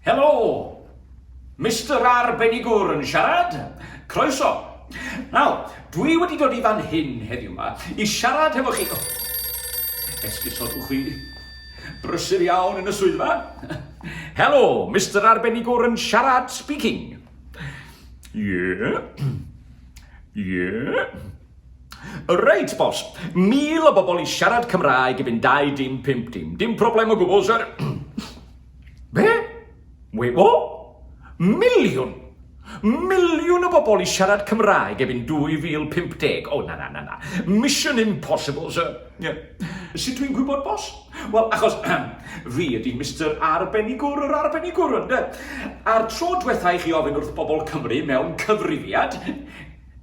Helo! Mister Arbenigwr yn siarad? Croeso! Nawr, dwi wedi dod i fan hyn heddiw yma i siarad hefo chi... Oh, esgusodwch chi. Brysur iawn yn y swyddfa. Helo, Mister Arbenigwr yn siarad speaking. Ie. Yeah. Ie. Yeah. Reit, boss. Mil o bobl i siarad Cymraeg i fynd dau dim pump dim. Dim problem o gwbl, sir. Be? Wait, what? Miliwn! Miliwn o bobl i siarad Cymraeg efo'n 2050. O, na, na, na, na. Mission impossible, sir. Yeah. Sut dwi'n gwybod, bos? Wel, achos fi ydy Mr Arbenigwr yr Arbenigwr, ynddo? A'r tro diwetha i chi ofyn wrth bobl Cymru mewn cyfrifiad,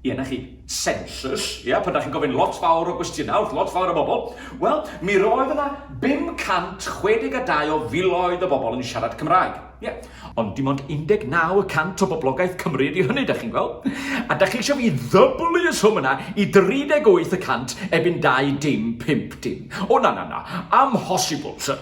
Ie, 'na chi, sensws. Ie, pan 'dach chi'n gofyn lot fawr o gwestiynau wrth lot fawr o bobl, wel, mi roedd yna 562 o filoedd o bobl yn siarad Cymraeg. Ie, ond dim ond 19 y cant o boblogaeth Cymru ydy hynny, 'dach chi'n gweld? A 'dach chi eisiau fi ddyblu y swm yna i 38 y cant ebyn dau dim pump dim? O, na, na, na, amhosibl, sir.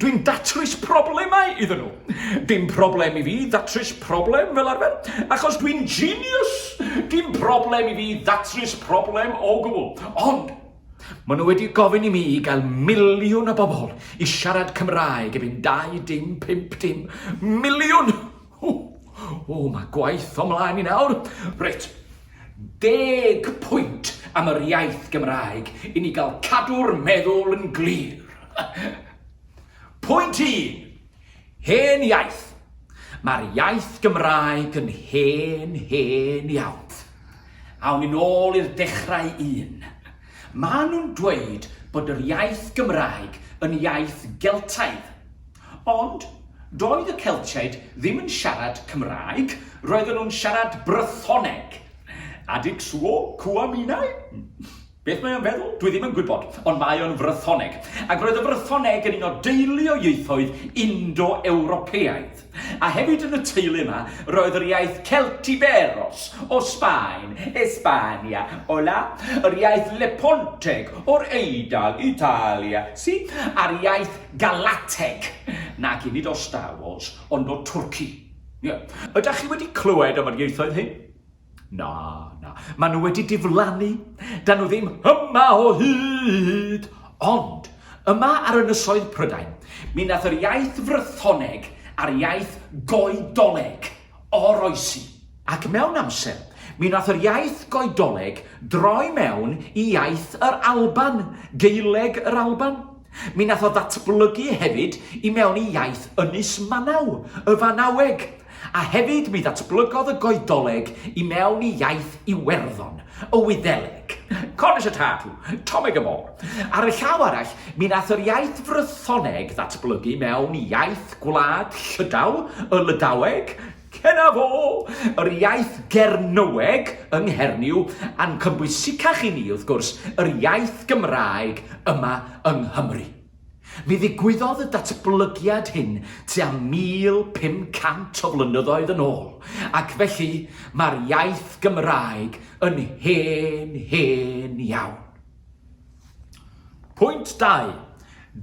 Dwi'n datrys problemau iddyn nhw. Dim problem i fi ddatrys problem fel arfer, achos dwi'n genius! Dim problem i fi ddatrys problem o gwbl. Ond, maen nhw wedi gofyn i mi i gael miliwn o bobl i siarad Cymraeg erbyn 25 dim. Miliwn! O, o, mae gwaith o mlaen i nawr. Reit, deg pwynt am yr iaith Gymraeg i ni gael cadw'r meddwl yn glir. Pwynt un, hen iaith. Mae'r iaith Gymraeg yn hen, hen iawn. Awn ni'n ôl i'r dechrau un. Maen nhw'n dweud bod yr iaith Gymraeg yn iaith Geltaidd. Ond, doedd y Celtiaid ddim yn siarad Cymraeg, roedden nhw'n siarad Brythoneg. Adig suo cua minae? Beth mae o'n feddwl? Dwi ddim yn gwybod, ond mae o'n Frythoneg. Ac roedd y Frythoneg yn un o deulu o ieithoedd Indo-Ewropeaidd. A hefyd yn y teulu yma, roedd yr iaith Celtiberos o Sbaen, Espania, Ola, yr iaith Leponteg o'r Eidal, Italia, si, a'r iaith Galateg, nac i nid o Star Wars, ond o Twrci. Ie. Ydach chi wedi clywed am yr ieithoedd hyn? Na, na, maen nhw wedi diflannu, da nhw ddim yma o hyd. Ond, yma ar ynysoedd Prydain, mi nath yr iaith frythoneg a'r iaith goedoleg oroesi. Ac mewn amser, mi nath yr iaith goedoleg droi mewn i iaith yr Alban, Geileg yr Alban. Mi wnaeth o ddatblygu hefyd i mewn i iaith Ynys Manaw, y Fanaweg, a hefyd mi ddatblygodd y Goedoleg i mewn i iaith Iwerddon, y Wyddeleg, Cornish a Tartu, Tomeg y Môr. Ar y llaw arall, mi wnaeth yr iaith Frythoneg ddatblygu mewn i iaith gwlad Llydaw, y Lydaweg, Cennaf o! Yr iaith Gernyweg yng Nghernyw, a'n cynbwysicach i ni, wrth gwrs, yr iaith Gymraeg yma yng Nghymru. Mi ddigwyddodd y datblygiad hyn tua 1,500 o flynyddoedd yn ôl, ac felly mae'r iaith Gymraeg yn hen, hen iawn. Pwynt 2.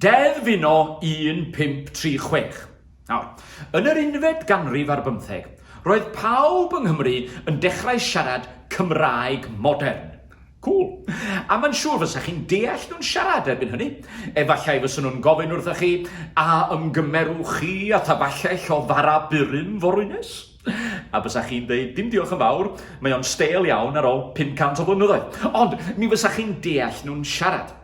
Deddf Uno 1536. Nawr, yn yr unfed ganrif ar bymtheg, roedd pawb yng Nghymru yn dechrau siarad Cymraeg modern. Cŵl. A mae'n siŵr fysa chi'n deall nhw'n siarad erbyn hynny. Efallai fysa nhw'n gofyn wrthych chi, a ymgymerwch chi â thaballell o fara burum forwynus? A bysa chi'n dweud, dim diolch yn fawr, mae o'n stêl iawn ar ôl 500 o flynyddoedd. Ond mi fysa chi'n deall nhw'n siarad.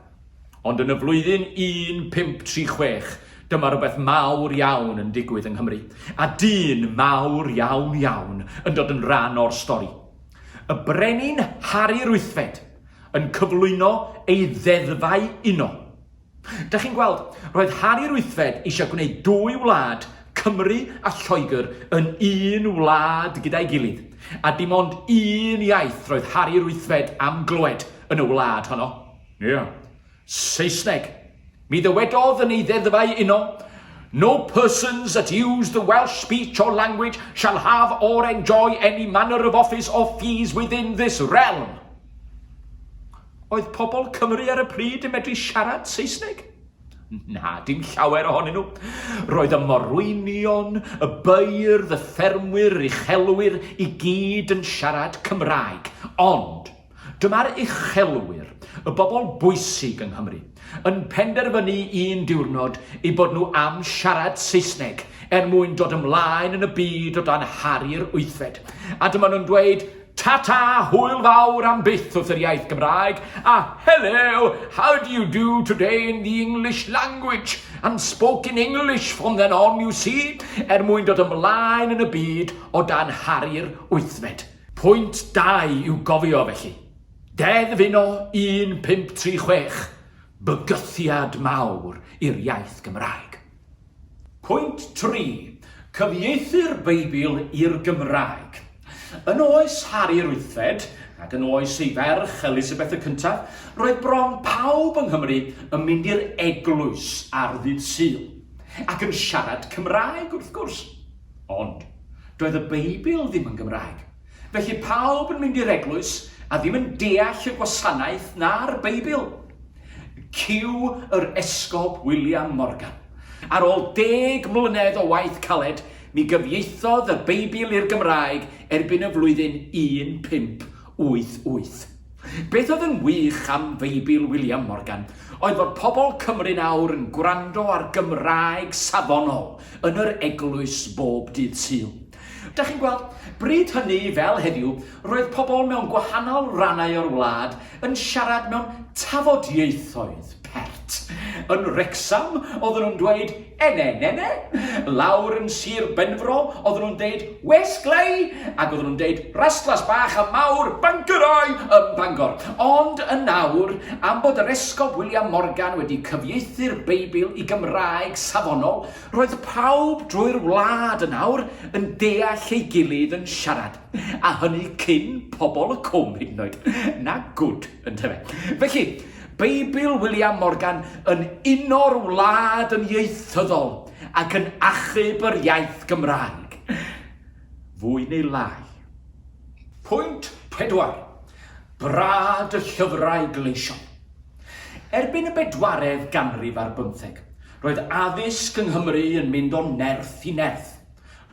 Ond yn y flwyddyn 1536, dyma rhywbeth mawr iawn yn digwydd yng Nghymru, a dyn mawr iawn iawn yn dod yn rhan o'r stori. Y Brenin Harri Ruthfed yn cyflwyno ei ddeddfau uno. Da chi'n gweld, roedd Harri Ruthfed eisiau gwneud dwy wlad, Cymru a Lloegr, yn un wlad gyda'i gilydd, a dim ond un iaith roedd Harri Ruthfed am glywed yn y wlad honno. Ia. Saesneg. Mi ddywedodd yn ei ddeddfau uno, No persons that use the Welsh speech or language shall have or enjoy any manner of office or fees within this realm. Oedd pobl Cymru ar y pryd yn medru siarad Saesneg? Na, dim llawer ohonyn nhw. Roedd y morwynion, y beirdd, y ffermwyr, yr uchelwyr i gyd yn siarad Cymraeg. Ond, Dyma'r uchelwyr, y bobl bwysig yng Nghymru, yn penderfynu un diwrnod eu bod nhw am siarad Saesneg er mwyn dod ymlaen yn y byd o dan Harri'r Wythfed. A dyma nhw'n dweud, Ta-ta, hwyl fawr am byth wrth yr iaith Gymraeg, a Hello, how do you do today in the English language, and spoke in English from then on, you see, er mwyn dod ymlaen yn y byd o dan Harri'r Wythfed. Pwynt da i'w gofio, felly. Deddf uno 1536, bygythiad mawr i'r iaith Gymraeg. Pwynt tri, cyfieithu'r Beibl i'r Gymraeg. Yn oes Harri'r Wythfed, ac yn oes ei ferch Elisabeth y Cyntaf, roedd bron pawb yng Nghymru yn mynd i'r eglwys ar ddydd Sul, ac yn siarad Cymraeg, wrth gwrs. Ond, doedd y Beibl ddim yn Gymraeg. Felly pawb yn mynd i'r eglwys a ddim yn deall y gwasanaeth na'r Beibl. Cyw yr Esgob William Morgan. Ar ôl deg mlynedd o waith caled, mi gyfieithodd y Beibl i'r Gymraeg erbyn y flwyddyn 15 Wyth, wyth. Beth oedd yn wych am Feibl William Morgan oedd fod pobl Cymru'n awr yn gwrando ar Gymraeg safonol yn yr eglwys bob dydd Sul. Da chi'n gweld, bryd hynny fel heddiw, roedd pobl mewn gwahanol rannau o'r wlad yn siarad mewn tafodieithoedd pert. Yn Wrecsam, oedden nhw'n dweud Ene, nene, lawr yn Sir Benfro, oedden nhw'n deud West Glei, ac oedden nhw'n deud Rastlas Bach a Mawr, Bangorau, ym Bangor. Ond yn awr, am bod yr Esgob William Morgan wedi cyfieithu'r Beibl i Gymraeg safonol, roedd pawb drwy'r wlad yn awr yn deall ei gilydd yn siarad, a hynny cyn pobl y cwm hyd yn oed. Na gwd. Yntyfe. Felly, Beibl William Morgan yn uno'r wlad yn ieithyddol ac yn achub yr iaith Gymraeg. Fwy neu lai. Pwynt pedwar, Brad y llyfrau gleision. Erbyn y bedwaredd ganrif ar bymtheg, roedd addysg yng Nghymru yn mynd o nerth i nerth.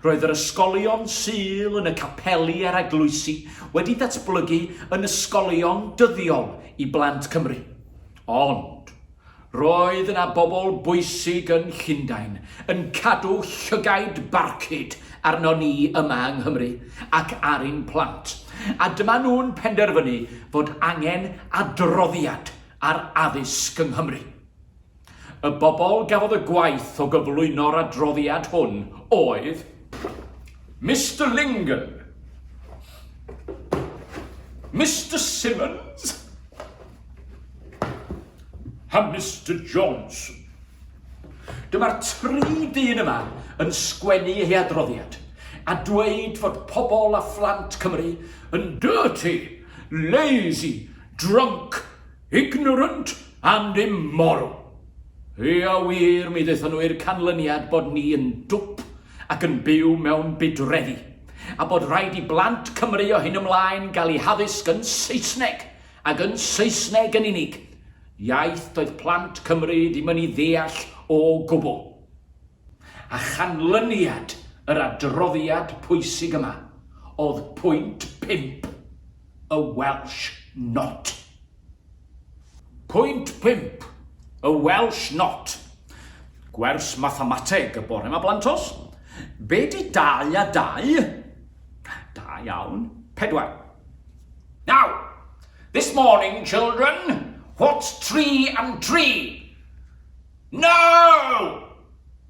Roedd yr ysgolion Sul yn y capeli a'r eglwysi wedi datblygu yn ysgolion dyddiol i blant Cymru. Ond, roedd yna bobl bwysig yn Llundain yn cadw llygaid barcud arnon ni yma yng Nghymru ac ar ein plant, a dyma nhw'n penderfynu fod angen adroddiad ar addysg yng Nghymru. Y bobl gafodd y gwaith o gyflwyno'r adroddiad hwn oedd Mister Lingen, Mister Simmons a Mister Johnson. Dyma'r tri dyn yma yn sgwennu ei adroddiad a dweud fod pobl a phlant Cymru yn dirty, lazy, drunk Ignorant and immoral! Ia wir, mi ddaethon nhw i'r canlyniad bod ni yn dwp ac yn byw mewn budreddi, a bod rhaid i blant Cymru o hyn ymlaen gael eu haddysg yn Saesneg, ac yn Saesneg yn unig, iaith doedd plant Cymru ddim yn ei ddeall o gwbl. A chanlyniad yr adroddiad pwysig yma oedd pwynt pump. y Welsh Not. Pwynt pump, y Welsh Not. Gwers mathemateg y bore ma blantos. Be di dau a dau? Da iawn. Pedwar. Now, this morning, children, what's tree and tree? No!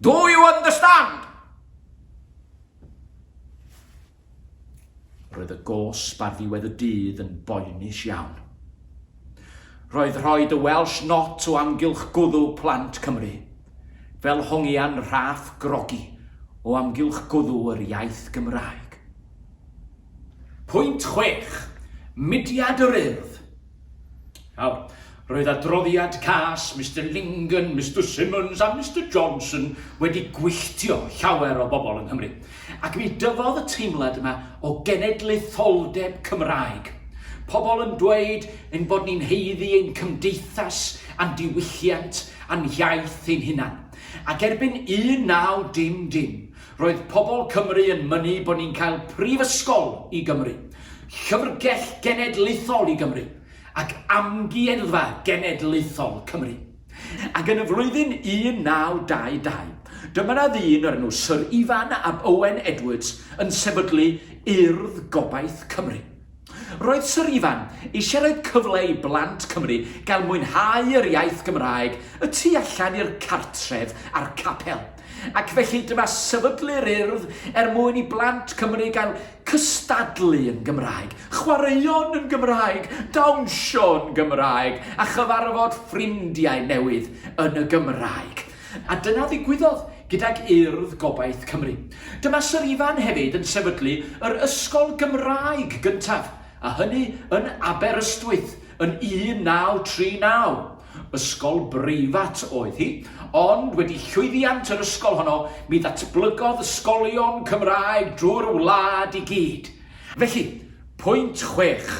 Do you understand? Roedd y gosb ar ddiwedd y dydd yn boenus iawn. Roedd rhoi dy Welsh Not o amgylch gwddw plant Cymru, fel hongian rhaff grogi o amgylch gwddw yr iaith Gymraeg. Pwynt chwech, Mudiad yr Urdd. Nawr, roedd adroddiad cas Mister Lingen, Mister Simmons a Mister Johnson wedi gwylltio llawer o bobl yng Nghymru, ac mi dyfodd y teimlad yma o genedlaetholdeb Cymraeg. Pobl yn dweud ein bod ni'n heiddi ein cymdeithas a'n diwylliant a'n hiaith ein hunan. Ac erbyn 19 dim dim, Roedd pobl Cymru yn mynnu bod ni'n cael prifysgol i Gymru, llyfrgell genedlaethol i Gymru, ac amgueddfa genedlaethol Cymru. Ac yn y flwyddyn 1922, dyma na ddyn o'r enw Syr Ifan ab Owen Edwards yn sefydlu Urdd Gobaith Cymru. Roedd Sir Ifan eisiau rhoi cyfle i blant Cymru gael mwynhau yr iaith Gymraeg y tu allan i'r cartref a'r capel, ac felly dyma sefydlu'r Urdd er mwyn i blant Cymru gael cystadlu yn Gymraeg, chwaraeon yn Gymraeg, dawnsio'n Gymraeg a chyfarfod ffrindiau newydd yn y Gymraeg. A dyna ddigwyddodd gydag Urdd Gobaith Cymru. Dyma Syr Ifan hefyd yn sefydlu yr ysgol Gymraeg gyntaf, a hynny yn Aberystwyth yn 1939. Ysgol breifat oedd hi, ond wedi llwyddiant yr ysgol honno, mi ddatblygodd ysgolion Cymraeg drwy'r wlad i gyd. Felly, pwynt chwech,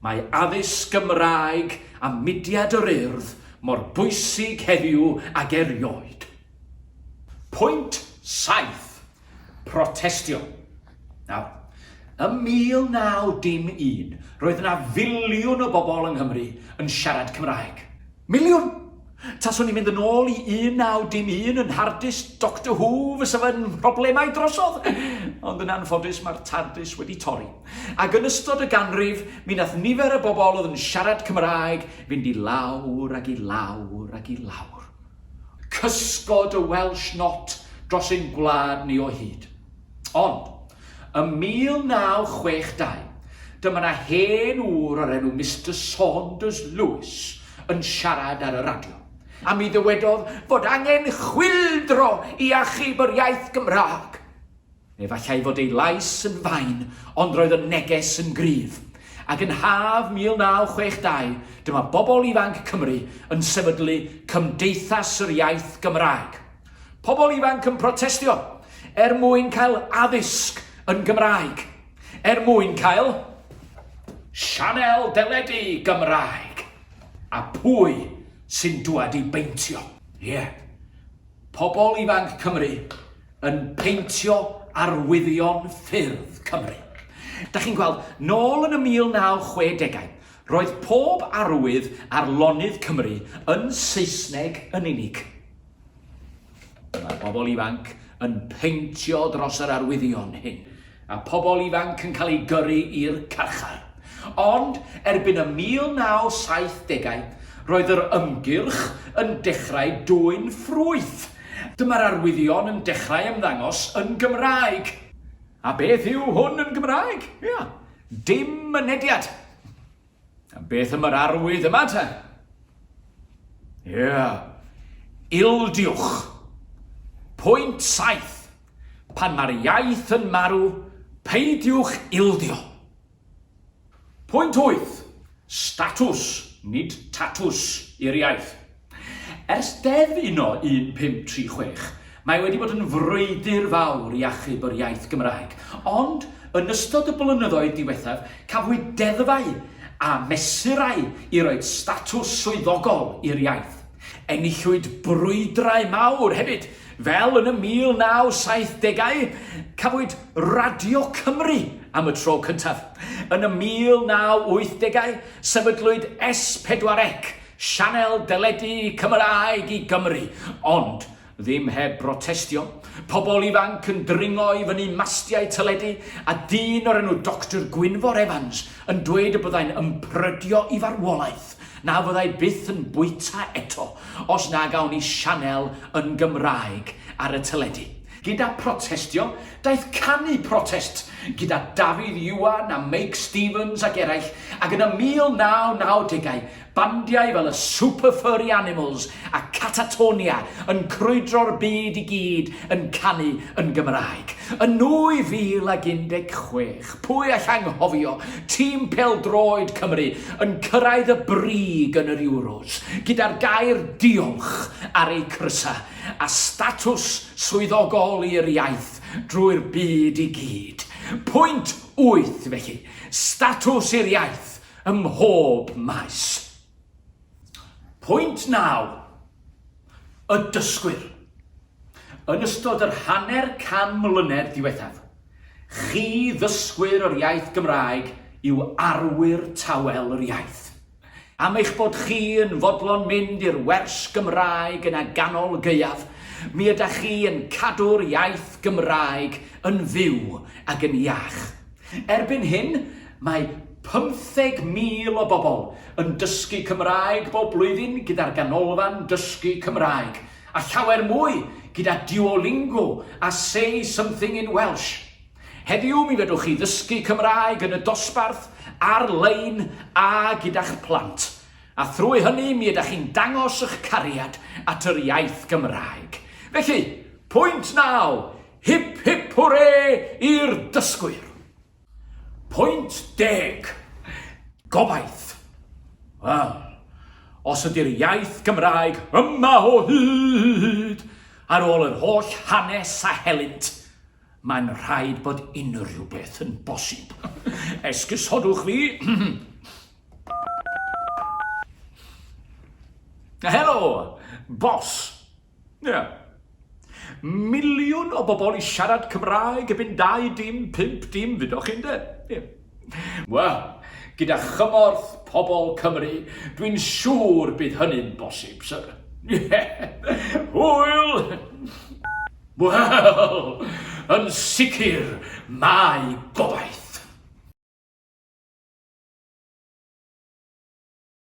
mae addysg Gymraeg a mudiad yr Urdd mor bwysig heddiw ag erioed. Pwynt saith, protestio. Nawr, ym 1901, roedd yna filiwn o bobl yng Nghymru yn siarad Cymraeg. Miliwn! Taswn i'n mynd yn ôl i 1901 yn hardus Doctor Who fysa fy mhroblemau drosodd! Ond yn anffodus mae'r Tardis wedi torri. Ac yn ystod y ganrif, mi nath nifer y bobl oedd yn siarad Cymraeg Fynd i lawr ac i lawr ac i lawr. Cysgod y Welsh Not dros ein gwlad ni o hyd. Ond, ym 1962, dyma 'na hen ŵr o'r enw Mister Saunders Lewis yn siarad ar y radio, a mi ddywedodd fod angen chwyldro i achub yr iaith Gymraeg. Efallai fod ei lais yn fain, ond roedd y neges yn gryf. Ac yn haf 1962, dyma bobl ifanc Cymru yn sefydlu Cymdeithas yr Iaith Gymraeg. Pobl ifanc yn protestio er mwyn cael addysg yn Gymraeg, er mwyn cael sianel deledu Gymraeg, a pwy sy'n dwad i beintio? Ie. Yeah. Pobl Ifanc Cymru yn peintio arwyddion ffyrdd Cymru. Da chi'n gweld, nôl yn y 1960au, roedd pob arwydd ar lonydd Cymru yn Saesneg yn unig. Mae pobl ifanc yn peintio dros yr arwyddion hyn. a phobl ifanc yn cael eu gyrru i'r carchar. Ond erbyn y 1970au, roedd yr ymgyrch yn dechrau dwyn ffrwyth. Dyma'r arwyddion yn dechrau ymddangos yn Gymraeg. A beth yw hwn yn Gymraeg? Ia, dim mynediad. A beth am yr arwydd yma te? Ie, yeah. ildiwch. Pwynt saith. Pan mae'r iaith yn marw, peidiwch ildio. Pwynt wyth. Statws, nid tatws, i'r iaith. Ers Deddf Uno 1536, mae wedi bod yn frwydr fawr i achub yr iaith Gymraeg, ond yn ystod y blynyddoedd diwethaf cafwyd deddfau a mesurau i roi statws swyddogol i'r iaith. Enillwyd brwydrau mawr hefyd, fel yn y 1970au cafwyd Radio Cymru am y tro cyntaf. Yn y 1980au sefydlwyd S4C, Sianel deledu Cymraeg i Gymru, ond ddim heb brotestio, pobl ifanc yn dringo i fyny mastiau teledu a dyn o'r enw Doctor Gwynfor Evans yn dweud y byddai'n ymprydio i farwolaeth na fyddai byth yn bwyta eto os nag awn i sianel yn Gymraeg ar y teledu. Gyda protestio, daeth canu protest gyda Dafydd Iwan a Meic Stevens ac eraill, ac yn y 1990au, bandiau fel y Super Furry Animals a Catatonia yn crwydro'r byd i gyd yn canu yn Gymraeg. Yn 2016, pwy all anghofio tîm pêl-droed Cymru yn cyrraedd y brig yn yr Euros, gyda'r gair 'Diolch' ar eu crysau. a statws swyddogol i'r iaith drwy'r byd i gyd. Pwynt wyth, felly, statws i'r iaith ym mhob maes. Pwynt naw, y dysgwyr. Yn ystod yr hanner can mlynedd diwethaf, chi ddysgwyr o'r iaith Gymraeg yw arwyr tawel yr iaith. Am eich bod chi yn fodlon mynd i'r wers Gymraeg yn a ganol gaeaf, mi ydach chi yn cadw'r iaith Gymraeg yn fyw ac yn iach. Erbyn hyn, mae 50,000 o bobl yn dysgu Cymraeg bob blwyddyn gyda'r Ganolfan Dysgu Cymraeg, a llawer mwy gyda Duolingo a Say Something in Welsh. Heddiw mi fedrwch chi ddysgu Cymraeg yn y dosbarth, ar-lein a gyda'ch plant, a thrwy hynny mi ydych chi'n dangos eich cariad at yr iaith Gymraeg. Felly, pwynt naw, hip hip hwre i'r dysgwyr. Pwynt deg, gobaith. Wel, os ydy'r iaith Gymraeg yma o hyd ar ôl yr holl hanes a helynt, Mae'n rhaid bod unrhyw beth yn bosib. Esgusodwch fi. Helo, bos. Ie. Miliwn o bobl i siarad Cymraeg erbyn dau dim, pump dim, fydoch chi'n de? Ie. Wel, gyda chymorth pobl Cymru, dwi'n siŵr bydd hynny'n bosib, syr. Ie. Hwyl! Wel, yn sicr, mae gobaith.